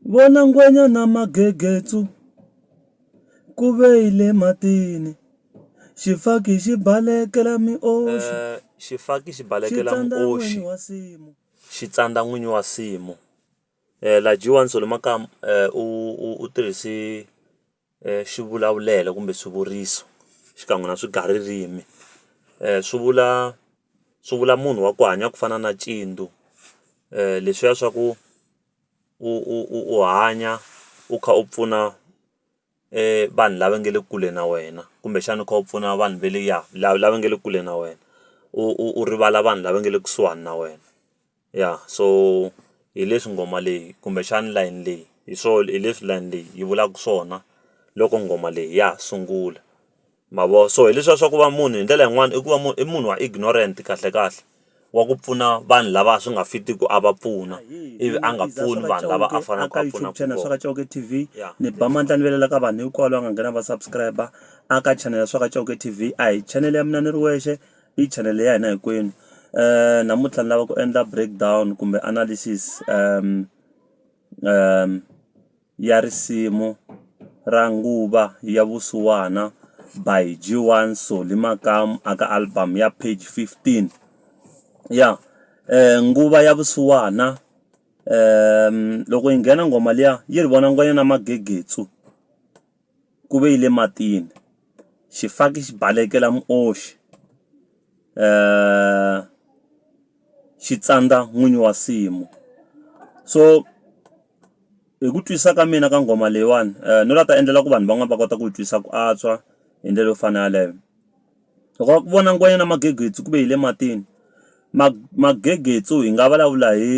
Vona ngwenya na magegetsu ku ve yi le matini. Xifaki xi balekela mioxi. Eh, xifaki xi balekela mioxi. Xi tsandza n'winyi wa simu. Eh, la dyiwa ni solo makamu eh, u, u, u tirhisi swivulavulelo kumbe swivuriso xikan'we na swigaririmi swi vula swi vula munhu wa ku hanya ku fana na leswiya swa ku u u u u hanya u kha u pfuna vanhu lava nga le kule na wena kumbexana u kha u pfuna vanhu va le ya lava lava nga le kule na wena u u u rivala vanhu lava nga le kusuhani na wena. ya so hi leswi nghoma leyi kumbexana layeni leyi hi swo hi leswi layeni leyi yi vulaka swona loko nghoma leyi ya ha sungula ma vo so hi leswiya swa ku va munhu hi ndlela yin'wani i ku va munhu i munhu wa ignorant kahle kahle wa ku pfuna vanhu lava swi nga fitiki a va pfuna ivi a nga pfuni vanhu lava a faneleke a pfuna channel swa ka Chauke TV ni ba mandla ni velela ka vanhu hinkwavo lava nga nghena va subscriber a ka channel swa ka Chauke TV a hi channel ya mina ni ri wexe. Hi chanel ya hina hinkwenu namuntlha ni lava ku endla break down kumbe analysis ya risimu ra nguva ya vusiwana by G1 Solly Makamu a ka album ya page 15 ya nguva ya vusiwana loko yi nghena nghoma liya yi ri vona ngwenya na magegetsu ku ve yi le matini xifaki xi balekela muoxi xi tsandza n'wini wa nsimu so hi ku twisisa ka mina ka nghoma leyiwani no la ta endlela ku vanhu van'wani va kota ku yi twisisa ku antswa hi ndlela yo fana yaleyo loko va ku vona ngwenya na magegedzi ku ve hi le matini magegedzu hi nga vulavula hi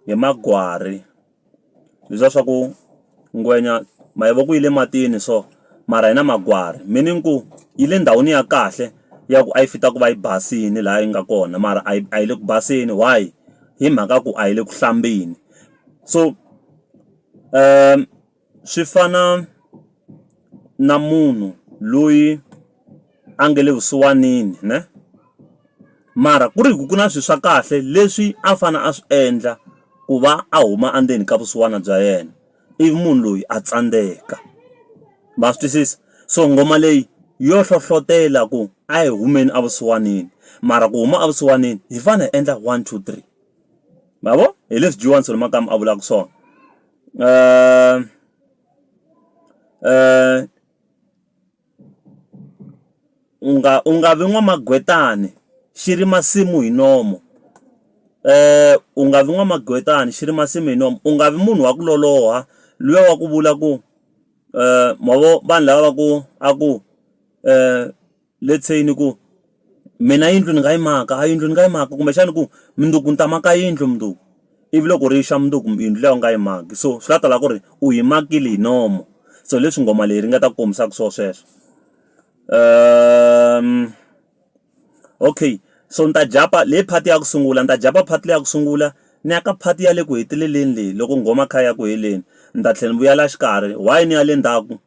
hi magwari. leswiya swa ku ngwenya mavoko yi le matini so mara yi na magwari meaning ku yi le ndhawini ya kahle ya ku a yi fit a ku va yi basile laha yi nga kona mara a yi a yi le ku baseni why hi mhaka ya ku a yi le ku hlambeni so swi fana na munhu loyi. a nga le vusiwanini ne mara ku ri hi ku ku na swilo swa kahle leswi a fanele a swi endla ku va a huma endzeni ka vusiwana bya yena ivi munhu loyi a tsandzeka ma swi twisisa so nghoma leyi yo hlohlotelo ku a hi humeni evusiwanini mara ku huma evusiwanini hi fanele hi endla one two three ma vo hi leswi Johan Selomakamba a vulaka swona ku . U nga u nga vi n'wamagwetani xi ri masimu hi nomu u nga vi n'wamagwetani xi ri masimu hi nomu u nga vi munhu wa ku loloha luya wa ku vula ku mavona vanhu lava va ku a ku let's say ni ku. Mina yindlu ni nga yi maka a yindlu ni nga yi maka kumbexana ku mundzuku ni ta maka yindlu mundzuku ivi loko ri xa mundzuku yindlu liya u nga yi maki so swi la ta la ku ri u yi makile hi nomu so hi leswi nghoma leyi ringeta ku kombisaka swona sweswo okay so ni ta jampa leyi part ya ku sungula ni ta jampa part leyi ya ku sungula ni ya ka part ya le ku heteleleni leyi loko nghoma yi kha yi ya ku heleni ni ta tlhela ni vuya la xikarhi why ni ya le ndzhaku.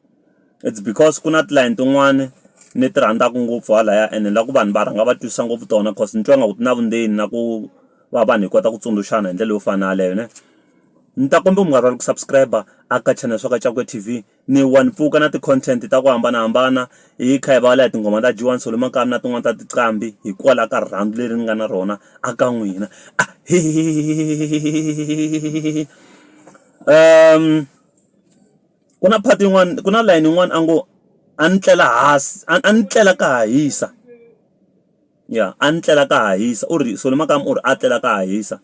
it's because ku na tilayini tin'wani ni ti rhandzaka ngopfu halaya and ni lava ku vanhu va rhanga va twisisa ngopfu tona cause ni twa nga ku ti na vundzeni na ku va vanhu hi kota ku tsundzuxana hi ndlela yo fana yaleyo ne ni ta kombela mi nga rivali ku subscribe a ka channel swa ka Cakuya T_V ni wa ni pfuka na ti-content ta ku hambanahambana hi kha hi vulavula hi tinghoma ta dyiwani solo makaya na tin'wani ta tinqambi hikwalaho ka rirhandzu leri ni nga na rona a ka n'wina ahee . Ku na part yin'wana ku na layeni yin'wana a ngo a ni tlela hansi a ni tlela ka ha hisa ya a ni tlela ka ha hisa u ri Solly makaya u ri a tlela ka ha hisa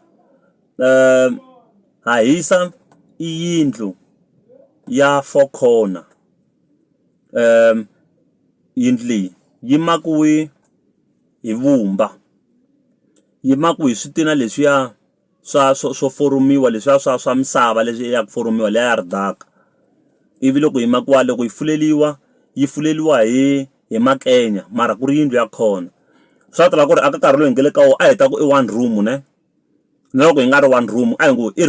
ha hisa i yindlu ya four corner yindlu leyi yi makiwile hi vumba yi makiwile hi switina leswiya swa swo swo foromiwa leswiya swa swa misava leswi ya ku foromiwa liya ya ridaka ivi loko yi makiwa loko yi fuleriwa yi fuleriwa hi hi makenya mara ku ri yindlu ya kona swa tiva ku ri aka nkarhi lowu hi nga le ka wona a hi ta ku i one room ne na loko yi nga ri one room a hi ngo i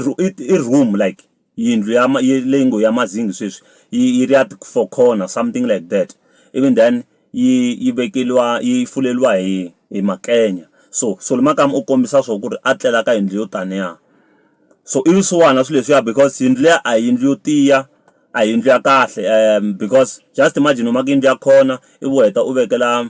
i room like. yindlu ya leyi ngo ya Mazingi sweswi yi ri ya ti four corner something like that ivi then yi yi vekeriwa yi fuleriwa hi hi makenya so so makaya u kombisa swo ku ri a tlela ka yindlu yo taniya so i swisiwana swilo leswiya because yindlu liya a yindlu yo tiya a hi yindlu ya kahle because just imagine u maka yindlu ya kona ivi u heta u vekela.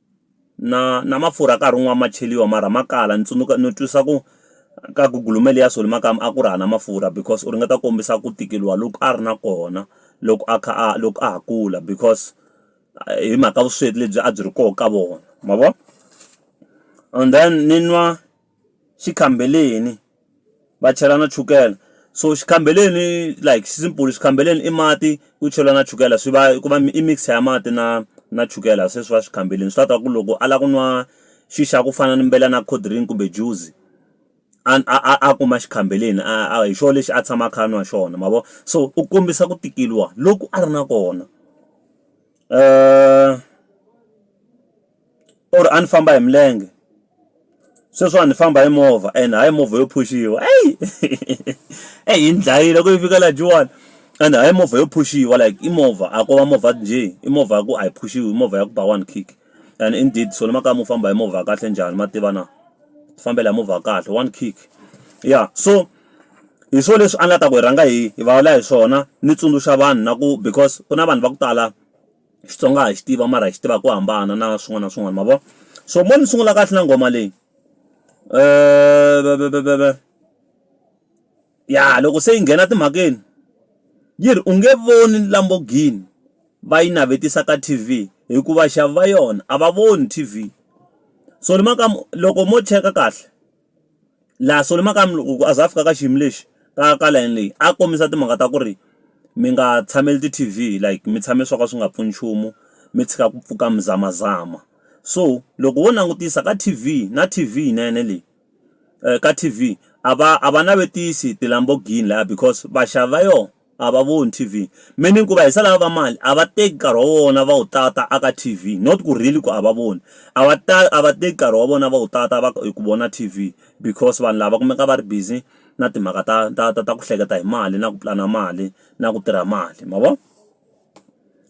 na na mafurha nkarhi wun'wani ma cheriwa mara ma kala ni tsundzuka ni twisisa ku ka gugulumende ya Solly makaya a ku ri hava mafurha because u ringeta ku kombisa ku tikeriwa loku a ri na kona loko a kha a loko a ha kula because hi mhaka vusweti lebyi a byi ri kona ka vona ma vo and then ni nwa. xikhambeleni va chela na chukele so xikhambeleni like simple xikhambeleni i mati ku cheriwa na chukele swi va ku va i mix ya mati na na chukele se swi va xikhambeleni swi ta ku loko a lava ku nwa xi xa ku fana ni mbela na cold drink kumbe juice a a a kuma xikhambeleni a hi xona lexi a tshama a kha a nwa xona ma vo so u kombisa ku tikeriwa loku a ri na kona . or a ni famba hi milenge sweswiwani ni famba hi movha and hayi movha yo phuxiwa eyi eyi yi ni dlayile ku yi fika laha Joni and hayi movha yo phuxiwa like i movha a ko va movha njhe i movha ya ku a yi phuxiwi i movha ya ku ba one khikhi and indeed swale makaya mo famba hi movha ya kahle njhani ma tiva na ti fambela hi movha ya kahle one khikhi ya so hi swona leswi a ni la ta ku hi rhanga hi hi vulavula hi swona ni tsundzuxa vanhu na ku because ku na vanhu va ku tala. Xitsonga ha xi tiva mara hi xi tiva ku hambana na swin'wana na swin'wana mavona so mo ni sungula kahle na nghoma leyi ya loko se yi nghena timhakeni yi ri u nge voni Lamborghini va yi navetisa ka T_V hikuva vaxavi va yona a va voni T_V so ni mhaka loko mo cheka kahle laha solo makaya mi loko a za a fika ka xiyimo lexi ka ka layeni leyi a kombisa timhaka ta ku ri mi nga tshameli ti T_V like mi tshame swo ka swi nga pfuni nchumu mi tshika ku pfuka mi zama zama so loko wo langutisa ka T_V na T_V yinene leyi ka T_V a va a va navetisa ti-Lamborghini laya because vaxavi va yona. a va voni T_V meaning ku va hisa lava va mali a va teki nkarhi wa vona va wu tata aka T_V not ku really ku a va voni a va ta a va teki nkarhi wa vona va wu tata va hi ku vona T_V because vanhu lava kumeka va ri busy na timhaka ta ta ta ta ku hleketa hi mali na ku pulana mali na ku tirha mali ma vo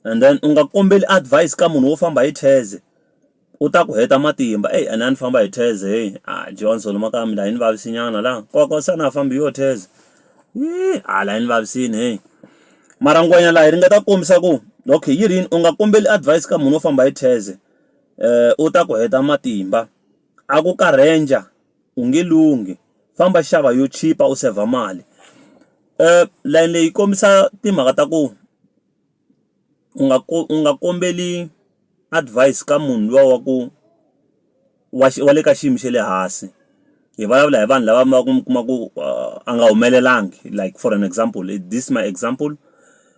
and then u nga kombeli advise ka munhu wo famba hi cheze. U ta ku heta matimba eyi ene a ni famba hi theze heyi a Johnson maka mi laha yi ni vavisinyana laha koko se a na ha fambi hi yo theze yi a laha yi ni vavisini heyi mara ngwenya laha yi ringeta ku kombisa ku okay yi rini u nga kombeli advise ka munhu wo famba hi theze u ta ku heta matimba a ku ka ranger u nge lunghi famba xava yo chipa u saver mali layeni leyi kombisa timhaka ta ku. u nga ku u nga kombela advise ka munhu luya wa ku wa wa le ka xiyimo xa le hansi hi vulavula hi vanhu lava va ku mi kuma ku a nga humelelanga like for an example is this my example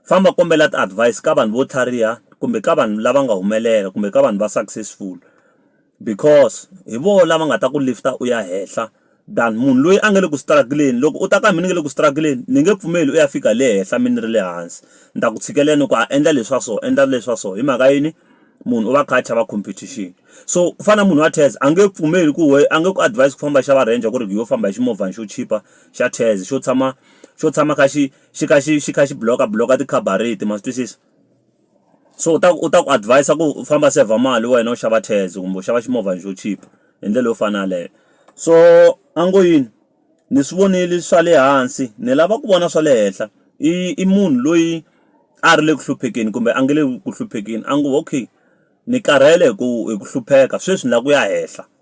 famba kombela ti-advise ka vanhu vo tlhariha kumbe ka vanhu lava nga humelela kumbe ka vanhu va successful Because hi vona lava nga ta ku lift-a u ya henhla than munhu loyi a nga le ku struggle-eni. Loko u ta ka mina ni nga le ku struggle-eni ni nge pfumeli u ya fika le henhla mina ni ri le hansi. Ni ta ku tshikelela ni ku a endla leswa so endla leswa so hi mhaka yini munhu u va a kha a chava competition. So ku fana na munhu wa Tez a nge pfumeli ku wehe a nge ku advise ku famba xava Ranger ku ri hi yo famba hi ximovhana xo chipa xa Tez xo tshama xo tshama kha xi xi kha xi xi kha xi block-a block-a ti-carburetor ma swi twisisa. so u ta ku u ta ku advise ku u famba saver mali wena u xava taxi kumbe u xava ximovhana xo chipa hi ndlela yo fana yaleyo so a ngo yini ni swi vonile swa le hansi ni lava ku vona swa le henhla i munhu loyi a ri le ku hluphekeni kumbe a nga le ku hluphekeni a ngo okay ni karhele hi ku hi ku hlupheka sweswi ni lava ku ya henhla.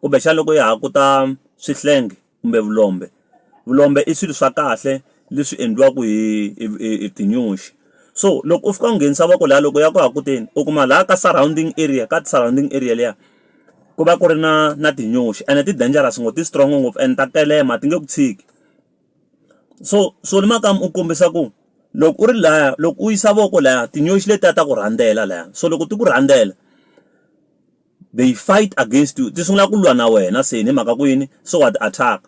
Kumbexana loko ya ha ku ta swihlengi kumbe vulombe vulombe i swilo swa kahle leswi endliwaka hi hi hi hi tinyoxi so loko u fika u nghenisa voko laya loko ya ku ha ku teni u kuma laha ka surrounding area ka surrounding area liya ku va ku ri na na tinyoxi ene ti dangerous ngopfu ti strong ngopfu and ta telema ti nge ku tshiki so so ni nakambe u kombisa ku loko u ri laya loko u yisa voko laya tinyoxi letiya ta ku rhandzela laya so loko ti ku rhandzela. they fight against you ti sungula ku lwa na wena se ni mhaka ku yini so wa ti attack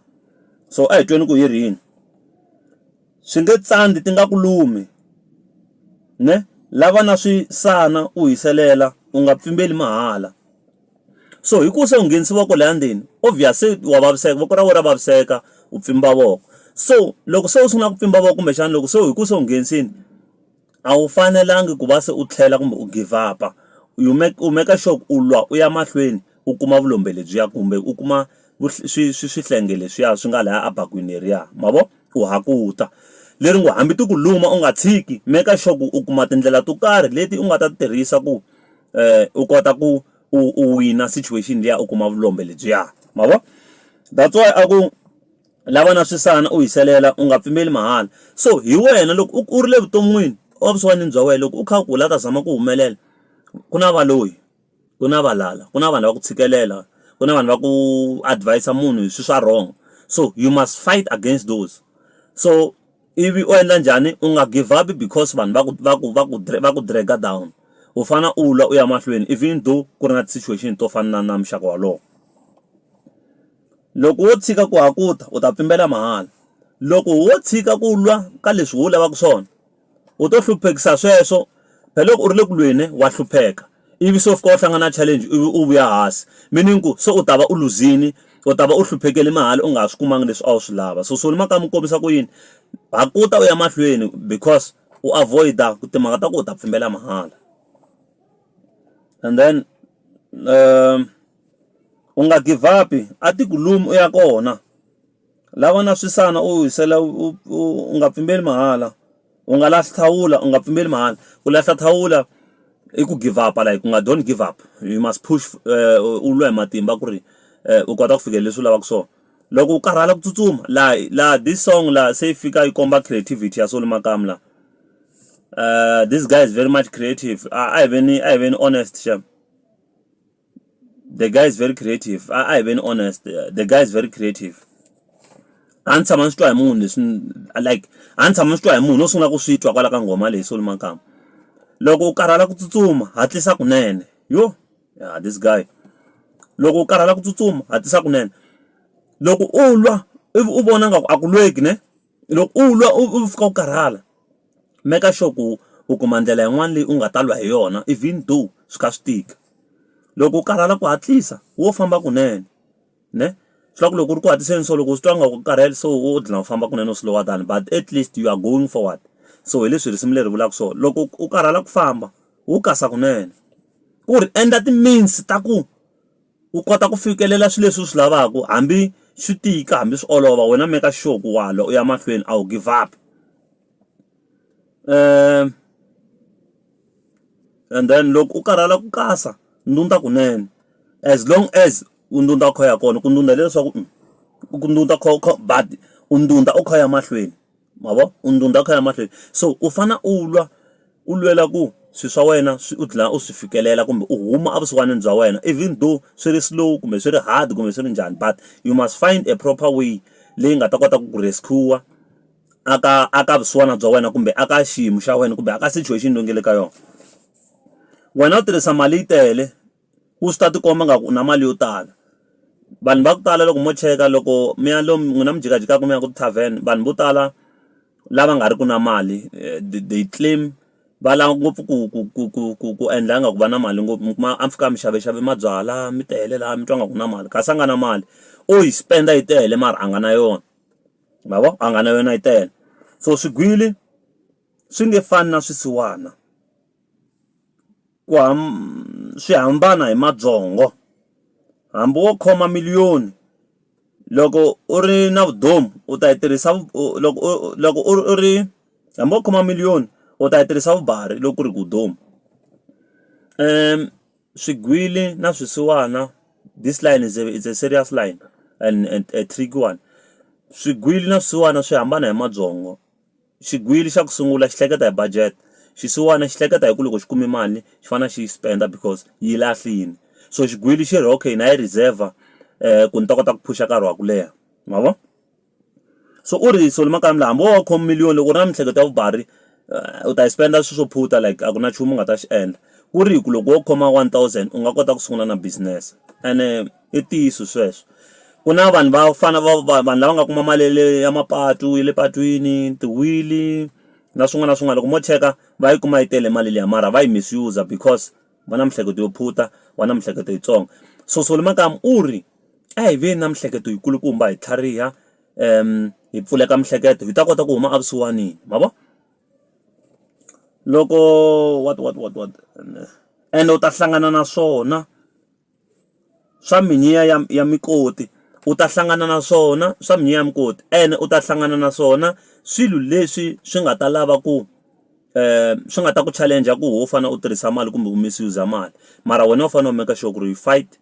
so a hi tweni ku hi rini swi nge tsandi ti nga ku lumi ne lava na swi sana u hiselela u nga pfimbeli mahala so hi ku se u nghenisiwa ko laya ndzeni obvious se wa vaviseka voko ra wena ra vaviseka u pfimba voko so loko se u sungula ku pfimba voko kumbexana loko se hi ku se u nghenisini A wu fanelangi ku va se u tlhela kumbe u give up-a. You make, u make-a sure ku u lwa u ya mahlweni u kuma vulombe lebyiya kumbe u kuma swihlengi leswiya swi nga lahaya abakweni leriya. Ma vo? U hakuta. Leri ngo hambi ti ku luma u nga tshiki, make-a sure ku u kuma tindlela to karhi leti u nga ta ti tirhisa ku u kota ku u u wina situation liya u kuma vulombe lebyiya. Ma vo? That's why a ku, Lava na swisana u hiselela u nga pfimeli mahala so hi wena loko u u ri le vuton'wini wa vusiwanini bya wena loko u kha u kula u ta zama ku humelela ku na valoyi ku na valala ku na vanhu lava ku tshikelela ku na vanhu va ku advis-a munhu hi swilo swa wrong so you must fight against those so ivi u endla njhani u nga give up because vanhu va ku va ku va ku va ku drag down u fane u lwa u ya mahlweni even though ku ri na ti situation to fana na na muxaka wolowo. Loko wo tshika ku hakuta, u ta pfimbela mahala. Loko wo tshika ku lwa ka leswi wu lavaka swona, u to hluphekisa sweswo, phela loko u ri le ku lweni wa hlupheka, ivi se u fika u hlangana na challenge ivi u vuya hasi, meaning ku se u ta va u luzini, u ta va u hluphekele mahala u nga ha swi kumanga leswi a wu swi lava. So Solly Makamu u kombisa ku yini? Hakuta u ya mahlweni because u avoid-a ku timhaka ta ku u ta pfimbela mahala and then . U nga givhapi, a ti ku lumi u ya kona. Lava na swisana u hisela u nga pfimbeli mahala. U nga lahli thawula u nga pfimbeli mahala. Ku lahla thawula i ku givhapa like u nga don't give up, you must push u lwa hi matimba ku ri u kota ku fikelela leswi u lavaka swona. Loko u karhala ku tsutsuma laha laha this song laha se yi fika yi komba creativity ya Solly Makamu laha. This guy is very much creative a hi veni a hi veni honest shame. the guy is very creative a a hi veni honest the guy is very creative a ni tshama ni swi twa hi munhu leswi ni- like a ni tshama ni swi twa hi munhu no sungula ku swi twa kwala ka nghoma leyi solo makamba loko u karhala ku tsutsuma hatlisa kunene yo yeah, this guy loko u karhala ku tsutsuma hatlisa kunene loko u lwa ivi u vona nga ku a ku lweki ne Loko u lwa u u fika u karhala, maker sure ku u kuma ndlela yin'wana leyi u nga ta lwa hi yona even though swi kha swi tika. Loko u karhala ku hatlisa wo famba kunene, ne. Swi vula ku loko ku ri ku hatliseni so loko u swi twa ingaku u karhele so wo dlina u famba kunene u slower down but at least you are going forward. So hi leswi risimu leri vulaka swona. Loko u karhala ku famba, wo kasa kunene. Ku ri endla ti-means ta ku. u kota ku fikelela swilo leswi u swi lavaka hambi swi tika hambi swi olova wena meka sure ku wa lwa u ya mahlweni a wu give up and then loko u karhala ku kasa ndhundha kunene as long as u ndhundha u kha u ya kona ku ndhundha hileswaku ku ndhundha u kha u kha but u ndhundha u kha u ya mahlweni. Ma vo? U ndhundha u kha u ya mahlweni. So u fanele u lwa, u lwela ku swilo swa wena swi u dlina u swi fikelela kumbe u huma evusiwanini bya wena even though swi ri slow kumbe swi ri hard kumbe swi ri njhani but you must find a proper way leyi nga ta kota ku ku rescue-wa a ka a ka vusiwana bya wena kumbe a ka xiyimo xa wena kumbe a ka situation leyi u nga le ka yona. Wena u tirhisa mali yi tele. u swi ta ti komba nga ku u na mali yo tala vanhu va ku tala loko mo cheka loko mi ya lomu n'wina mi jikajikaka mi ya ka ti-tarven vanhu vo tala lava nga ri ki na mali they claim va lava ngopfu ku ku ku ku ku ku endla ingaku va na mali ngopfu mi kuma a mi fika mi xavaxava mabyalwa mi tele laha mi twa ingaku u na mali kasi a nga na mali o yi spend yi tele mara a nga na yona ma vo a nga na yona yi tele so swigwili swi nge fani na swisiwana. Ku swi hambana hi mabyongo hambi wo khoma miliyoni loko u ri na vutomi u ta yi tirhisa loko u loko u ri u ri hambi wo khoma miliyoni u ta yi tirhisa vumbhari loko ku ri ku u duma swigwili na swisiwana this line is a is a serious line and a tricky one swigwili na swisiwana swi hambana hi mabyongo. Xigwili xa ku sungula xi hleketa hi budget xisiwana xi hleketa hi ku loko xi kume mali xi fanele xi yi spend because yi lahlile so xigwili xi ri okay na yi reserve ku ni ta kota ku phusha nkarhi wa ku leha ma vo so u ri so makaya hambi wo va u khome million loko u ri na miehleketo ya vumbirhi u ta yi spend swilo swo phunta like a ku na nchumu u nga ta xi endla ku ri hi ku loko wo khoma one thousand u nga kota ku sungula na business ene. i ntiyiso sweswo ku na vanhu va fana va va vanhu lava nga kuma mali ya le ya mapatu ya le patwini tiwhili na swin'wana na swin'wana loko mo cheka va yi kuma yi tele mali liya mara va yi misuse because va na miehleketo yo phunta va na miehleketo yitsongo so Solly Makamu u ri a hi veni na miehleketo yi kulukumba hi tlhariha hi pfuleka miehleketo hi ta kota ku huma evusiwanini ma vo loko what what what what ende u ta hlangana na swona. swa mhinyiya ya ya mikoti u ta hlangana na swona swa mhinyiya ya mukoti ene u ta hlangana na swona swilo leswi swi nga ta lava ku swi nga ta ku challenge ku ho fane u tirhisa mali kumbe u misuse mali mara wena u fanele u make sure ku ri fight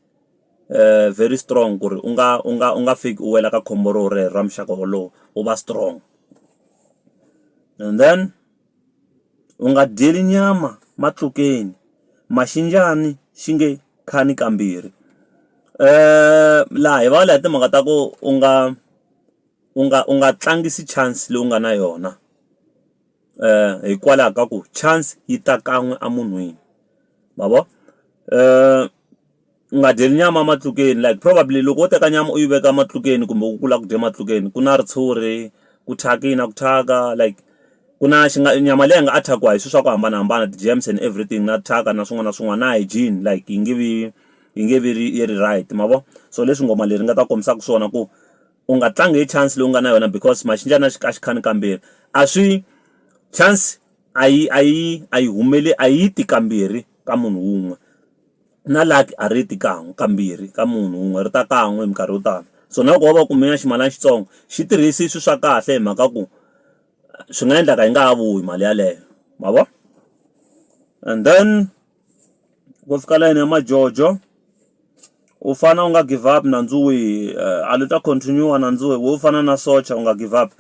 very strong ku ri u nga u nga u nga fiki u wela ka khombo ro rero ra muxaka wolowo u va strong and then. U nga dyeli nyama matlukeni, maxinjhani xi nge khani kambirhi. Laha hi vulavula hi timhaka ta ku u nga u nga u nga tlangisi chance leyi u nga na yona hikwalaho ka ku chance yi ta kan'we emunhwini ma vo . U nga dyeli nyama ematlukeni like probably loko wo teka nyama u yi veka ematlukeni kumbe u kula ku dya ematlukeni ku na ritshuri ku thyakisa ku thyaka like ku na xi nga nyama leyi nga thyaka hi swilo swa ku hambanahambana ti germs and everything na thyaka na swin'wana na swin'wana na hygiene like yi nge vi yi nge vi ri yi ri right ma vo so leswi ngoma leri nga ta kombisaka swona ku u nga tlangi hi chance leyi u nga na yona because maxindyani a xi a xi khani kambirhi a swi chance a yi a yi a yi humeleli a yi ti kambirhi ka munhu wun'we. na lucky a ri ti kan'we kambirhi ka munhu wun'we ri ta kan'we hi minkarhi yo tala so na loko wo va u kume ximalana xitsongo xi tirhisi swilo swa kahle hi mhaka ku swi nga endleka yi nga ha vuyi mali yeleyo ma vo and then ku fika layeni ya majojo u fane u nga give up nandzu wihi a wu ta continue nandzu wo fana na socha u nga give up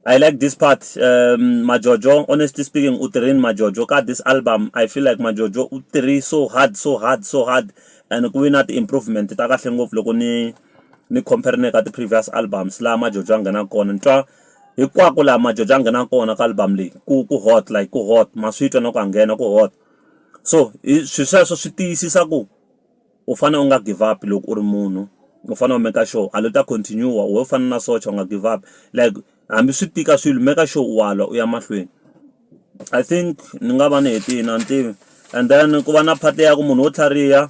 I like this part um, Majojo honestly speaking u tirhini Majojo ka this album I feel like Majojo u tirhi so hard so hard so hard and ku ve na ti-improvement ta kahle ngopfu loko ni ni compare ni ka ti-previous albums laha Majojo a nghenaka kona ni twa hinkwako laha Majojo a nghenaka kona ka album leyi ku ku hot like ku hot ma swi twa na ku a nghena ku hot so hi swi sweswo swi tiyisisa ku U fane u nga give up loko u ri munhu u fane u make sure a lo ta continue u we u fana na socha u nga give up like hambi swi tika swilo make sure u wa lwa u ya mahlweni I think ni nga va ni hetini a ni tivi and then ku va na part ya ku munhu wo tlhariha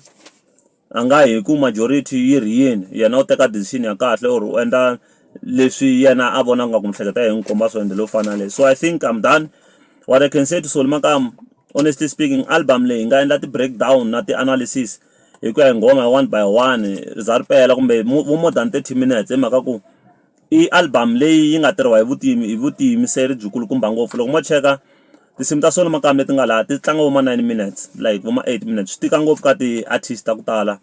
a nga hi ku majority yi ri yini yena u teka decision ya kahle or u endla leswi yena a vona nga ku miehleketo ya yena yi n'wi komba swo ende leyo fana na leyi so I think I'm done what I can say to Solly Makamu. honestly speaking album leyi hi nga endla ti-break down na ti-analysis hi ku ya hi nghoma one by one ri za ri pela kumbe vo more than thirty minutes hi mhaka ku i album leyi yi nga tirhiwa hi hi vutiyimiseri byi kulukumba ngopfu loko mo cheka tinsimu ta solo nakambe leti nga laha ti tlanga vo ma nine minutes like vo ma eight minutes swi tika ngopfu ka ti-artist ta ku tala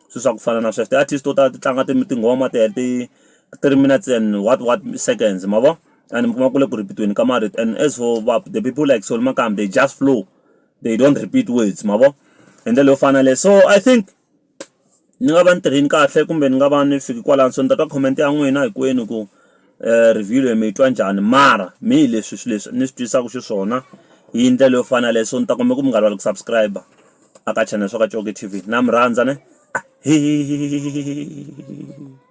swilo swa ku fana na sweswo ti-artist to tala ti tlanga tinghoma ti heta three minutes and what what seconds ma vo. and mi kuma ku le ku repeat-weni ka marito and as for va the people like Solly Makam they just flow they don't repeat words ma vo hi ndlela yo fana leyo so i think ni nga va ni tirhini kahle kumbe ni nga va ni fiki kwalano so ni ta twa comment ya n'wina hinkwenu ku um review leyi mi yi twa njhani mara mi hi leswi swi leswi ni swi twisaka xiswona hi ndlela yo fana leyo so ni ta kumbe ku mi nga lava ku subscribe aka channel swa ka coke tv na mi rhandza ne a hi